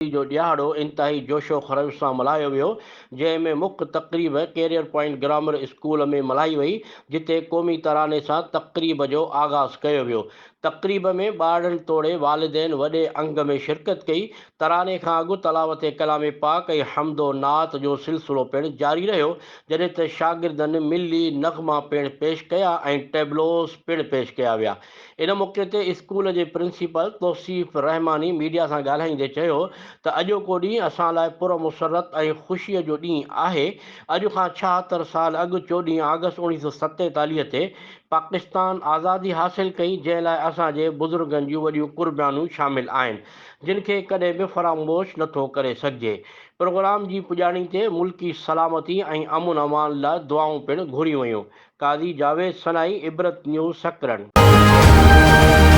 خوشي جو ڏيهاڙو انتهائي جوش و خروش سان ملهايو ويو، جنهن ۾ مک تقريب ڪيريئر پوائنٽ گرامر اسڪول ۾ ملهائي وئي، جتي قومي تراني سان تقريب جو آغاز ڪيو ويو. تقريب ۾ ٻارڙن توڙي والدين وڏي انگ ۾ شرڪت ڪئي، تراني کان اڳ تلاوت ڪلام پاڪ ۽ حمد و نعت جو سلسلو پڻ جاري رهيو، جڏهن ته شاگردن ملي نغما پڻ پيش ڪيا ۽ ٽيبلوز پڻ پيش ڪيا ويا. ان موقعي تي اسڪول جي پرنسپل توصيف رحماني ميڊيا سان ڳالهائيندي چيو ته اڄوڪو ڏينهن اسان لاء پرمسرت ۽ خوشي جو ڏينهن آهي، اڄ کان ڇاهتر سال اڳ چوڏهين آگسٽ اوڻيهه سؤ ستيتاليهه تي پاڪستان آزادي حاصل ڪئي جنهن لاء اسان جي بزرگن جون وڏيون قربانيون شامل آهن. جن کي ڪڏهن به فراموش نٿو ڪري سگهجي. پروگرام جي پڄاڻي تي ملڪي سلامتي ۽ امن امان لاء دعائون پڻ گهريون ويون. قاضي جاويد سنائي عبرت نيوز سڪرنڊ.